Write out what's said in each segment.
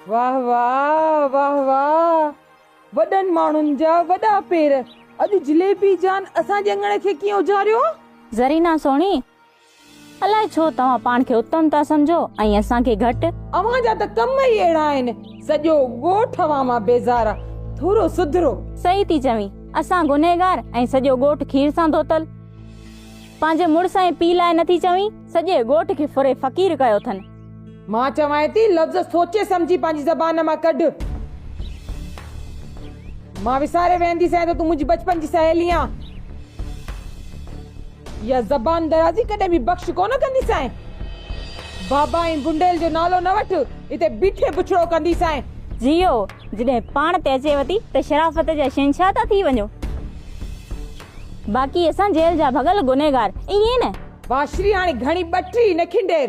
واه واه واه واه وڏن ماڻهن جا وڏا پير اڄ جليبي جان اسان جي اڱڻ کي ڪيئن اجاريو. زرينا سهڻي! الاء ڇو توهان پاڻ کي اتم ٿا سمجهو ۽ اسان کي گهٽ. اوهان جا ته ڪم ئي اهڙا آهن. سڄو ڳوٺ اوهان مان بيزار آ. ٿورو سڌرو. صحيح ٿي چوين. اسان گنهگار ۽ سڄو ڳوٺ کير سان ڌوتل. پنهنجي مڙس ۽ پيء لاء نٿي چوين. سڄي ڳوٺ کي ڦري فقير ڪيو اٿن. مان چوانء ٿي لفظ سوچي سمجهي پنهنجي زبان مان ڪڍ. مان وساري ويهندي سين ته تون منهنجي بچپن جي سهيلي آن. اها زبان درازي ڪڏهن به بخش ڪونه ڪندي سين. بابا ۽ بنڊيل جو نالو نه وٺ، اتي بيٺي بڇڙو ڪندي سين. جيئو، جڏهن پاڻ تي اچيو ٿي ته شرافت جا شهنشاهه ٿا ٿي وڃو. باقي اسان جيل جا ڀڳل گنهگار، ائين نه؟ واشري هاڻي گهڻي ٻٽ ئي نه کنڊير.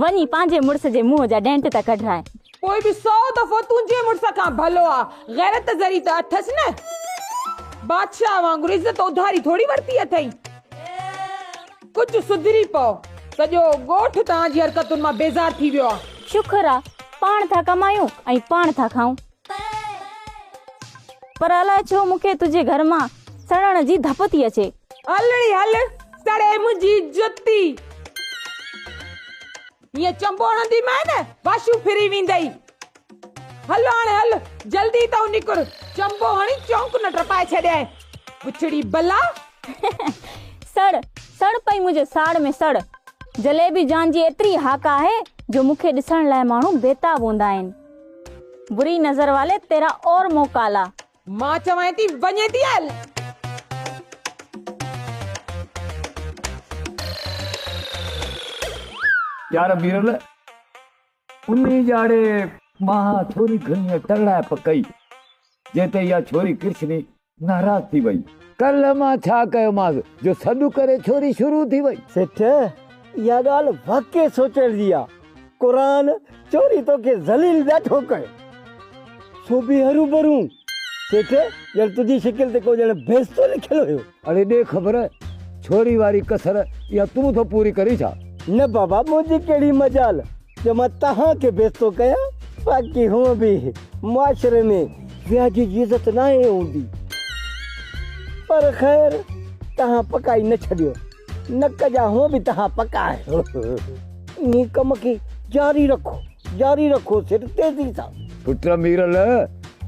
وڃي پنهنجي مڙس جي منهن جا ڏينٽ ته ڪڍرائين. پوء به سؤ دفعو تنهنجي مڙس کان ڀلو آ. غيرت ذري ته اٿس نه. بادشاهه وانگر عزت اڌاري ٿوري ورتي اٿئي. ڪجهه سڌري پئو. سڄو ڳوٺ توهان جي حرڪتن مان بيزار ٿي ويو آ. شڪر آ پاڻ ٿا ڪمايون ۽ پاڻ ٿا کائون. پر الاء ڇو مون کي تنهنجي گهر مان سڙڻ جي ڌپ ٿي اچي. الڙي هل سڙي منهنجي جتي. هيئن چنبو هڻندي مئي نه واشو ڦري ويندئي. هل هاڻي هل جلدي تون نڪر چنبو هڻي چونڪ نه ٽپائي ڇڏيائين بڇڙي بلا. سڙ سڙ پئي منهنجي ساڙ ۾ سڙ. جليبي جان جي ايتري هاڪ آهي جو مون کي ڏسڻ لاء ماڻهو بيتاب هوندا آهن. بري نظر والي تيرا اور منهن ڪالا. مان چوانء ٿي وڃي ٿي هل. يار ميرل انهي جاڙي مان ٿوري گهڻي ترڙائپ ڪئي جنهن تي اها ڇوري ڪرشني ناراض ٿي وئي. ڪلهه مان ڇا ڪيومانس جو سڏ ڪري ڇوري شروع ٿي وئي. سيٺ، اها ڳالهه واقعي سوچڻ جي آ. قرآن چوري توکي ذليل ڏاڍو ڪيو. سو به هروڀرو. سيٺ، ڄڻ تنهنجي شڪل تي ڪو ڄڻ بهشتو لکيل هيو. اڙي ڏي خبر، ڇوري واري ڪسر اها تون ٿو پوري ڪرين ڇا؟ نه بابا، منهنجي ڪهڙي مجال. جو مان توهان کي بي عزتو ڪيان، باقي هونء به معاشري ۾ وياجي جي عزت ناهي هوندي. پر خير، توهان پڪائي نه ڇڏيو. نڪ جا هونء به توهان پڪا آهيو. انهي ڪم کي جاري رکو، جاري رکو سر، تيزي سان. پٽ ميرل،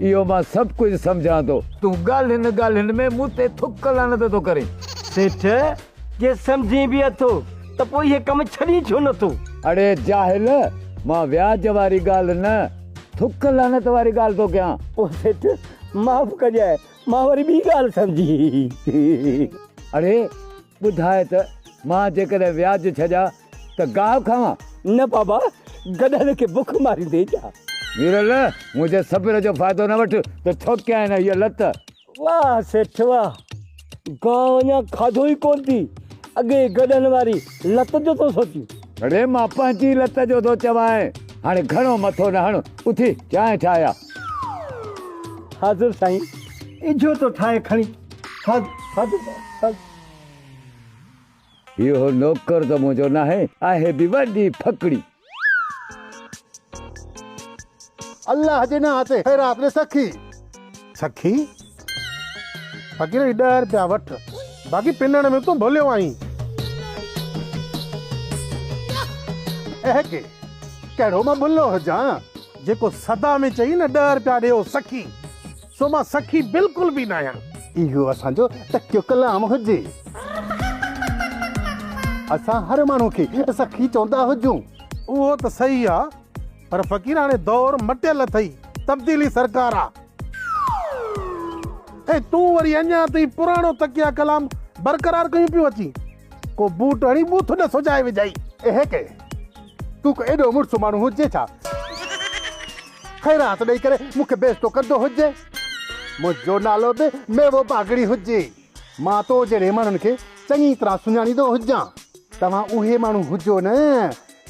اهو مان سڀ ڪجهه سمجهان ٿو. تون ڳالهين ڳالهين ۾ مون تي ٿڪ لعنت ٿو ڪرين. سيٺ! جي سمجهين به اٿو ته پوء اهي ڪم ڇڏين ڇو نٿو؟ اڙي جاهل! مان وياج واري ڳالهه نه، ٿڪ لعنت واري ڳالهه ٿو ڪيان. او سيٺ! معاف ڪجاء، مان وري ٻي ڳالهه سمجهي. اڙي ٻڌاء ته مان جيڪڏهن وياج ڇڏيا ته گاهه کاوان؟ نه بابا، گڏهن کي بک ماريندين ڇا؟ ويرل! منهنجي صبر جو فائدو نه وٺ ته ٺوڪيانء نه هيء لت. واه سيٺ واه گاهه اڃا کاڌو ئي ڪون ٿي اڳي گڏهن واري لت جو ٿو سوچين. اڙي مان پنهنجي لت جو ٿو چوانء هاڻي گهڻو مٿو نه هڻ اٿي چانهه ٺاهه آ. حاضر سائين اجهو ٿو ٺاهي کڻي حاضر حاضر حاضر. اهو نوڪر ته منهنجو ناهي، آهي به وڏي ڦڪڙي. الله جي نانء تي خيرات ڏي سخي. سخي! فقير هي ڏهه رپيا وٺ، باقي پنڻ ۾ تون ڀليو آهين. اهي ڪي، ڪهڙو مان ڀلو هجان، جيڪو سدا ۾ چئي نه ڏهه رپيا ڏيو سخي. سو مان سخي بلڪل به ناهيان. اهو اسان جو تکيو ڪلام هجي. اسان هر ماڻهو کي سخي چوندا هجون. اهو ته صحيح آ پر فقيراڻي دور مٽيل اٿئي تبديلي سرڪار آ ۽ تون وري اڃان تائين پراڻو تڪيا ڪلام برقرار ڪيون پيون اچين. ڪو بوٽ هڻي مون ٿو نه سجائي وجهائي. اهي ڪي؟ تون ڪو ايڏو مڙس ماڻهو هجين ڇا؟ خير هٿ ڏئي ڪري مون کي بيستو ڪندو هجين. منهنجو نالو به ميوو باگڙي هجي. مان تو جهڙي ماڻهن کي چڱي طرح سڃاڻيندو هجان. توهان اهي ماڻهو هجو نه،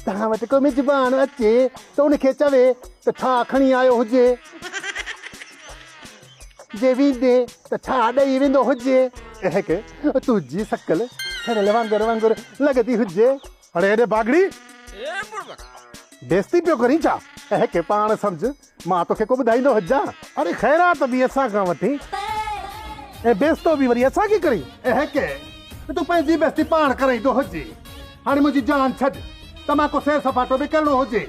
توهان وٽ ڪو مزبان اچي ته ان کي چوي ته ڇا کڻي آيو هجي. جي ويندي ته ڇا ڏئي ويندو هجي. اهي ڪي تون جي سڪل ڇرل وانگر وانگر لڳندي هجي. اڙي هيڏي باگڙي بيستي پيو ڪرين ڇا. اهي ڪي پاڻ سمجهه مان توکي ڪو ٻڌائيندو هجان. اڙي خيرات به اسان کان وٺين ۽ بيستو به وري اسان کي ڪرين. اهي ڪي تون پنهنجي بيستي پاڻ ڪرائيندو هجي. هاڻي منهنجي جان ڇڏ ته مان ڪو سير سپاٽو به ڪرڻو هجي.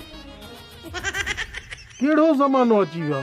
ڪهڙو زمانو اچي ويو آ.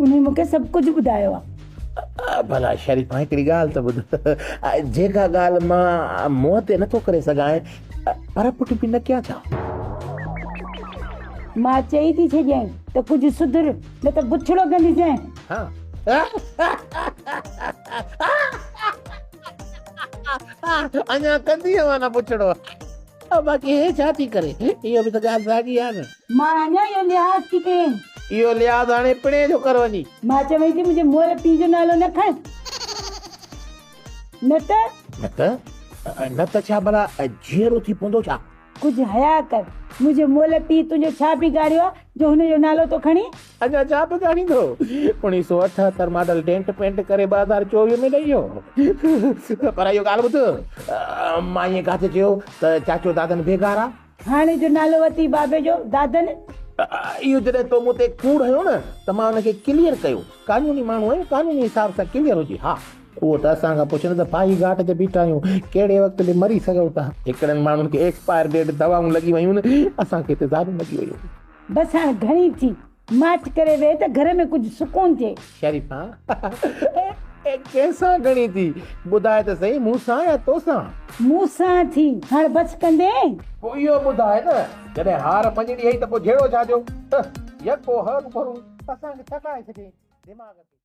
انهي مون کي سڀ ڪجهه ٻڌايو آهي. ڀلا شريف مان هڪڙي ڳالهه ته ٻڌ، جيڪا ڳالهه مان منهن تي نٿو ڪري سگهان، پر پٽ به نه ڪيان ڇا؟ مان چئي ٿي ڇڏيان ته ڪجهه سڌر، نه ته بڇڙو ڪنديسين. اڃا ڪندينء نه بڇڙو، باقي هي ڇا ٿي ڪري، اها به ته ڳالهه ساڳي آهي نه. مان اڃا اهو لحاظ ٿي ڪرين. اهو لحاظ هاڻي پڻهين جو ڪر وڃي. مان چوين ٿي منهنجي مئل پيء جو نالو نه کڻ. نه ته. نه ته. نه ته ڇا ڀلا جيئرو ٿي پوندو ڇا؟ ڪجهه حياء ڪر. منهنجي مئل پيء تنهنجو ڇا بگاڙيو آهي جو هن جو نالو ٿو کڻين؟ اڃا ڇا بگاڙيندو. اوڻيهه سؤ اٺهتر ماڊل ڊينٽ پينٽ ڪري ٻه هزار چوويهه ۾ ڏئي ويو. پر اهو ڳالهه ٻڌ. مان ائين ڪاٿي چيو ته چاچو دادن بيگار آهي. هاڻي جو نالو وتي بابي جو دادن. اهو جڏهن تو مون تي ڪوڙ هنيو نه ته مان ان کي ڪليئر ڪيو. قانوني ماڻهو آهيون قانوني حساب سان ڪليئر هجي ها. اهو ته اسان کان پڇ نه ته ڦاهي گهاٽ تي بيٺا آهيون ڪهڙي وقت به مري سگهو ٿا. هڪڙن ماڻهن کي ايڪسپائر ڊيٽ دوائون لڳي ويون اسان کي تيزابيون لڳي ويون. بس هاڻ گهڻي ٿي. ماٺ ڪري ويهه ته گهر ۾ ڪجهه سڪون ٿئي. شريفا، اي ڪنهن سان گهڙين ٿي؟ ٻڌاء ته سهي مون سان يا تو سان؟ مون سان ٿي، هاڻ بس ڪندين؟ پوء اهو ٻڌاء نه، جڏهن هار مڃڻي هئي ته پوء جهيڙو ڇا جو؟ هه! يڪو هه روبرو اسان کي ٿڪائي ڇڏيئي، دماغ کي.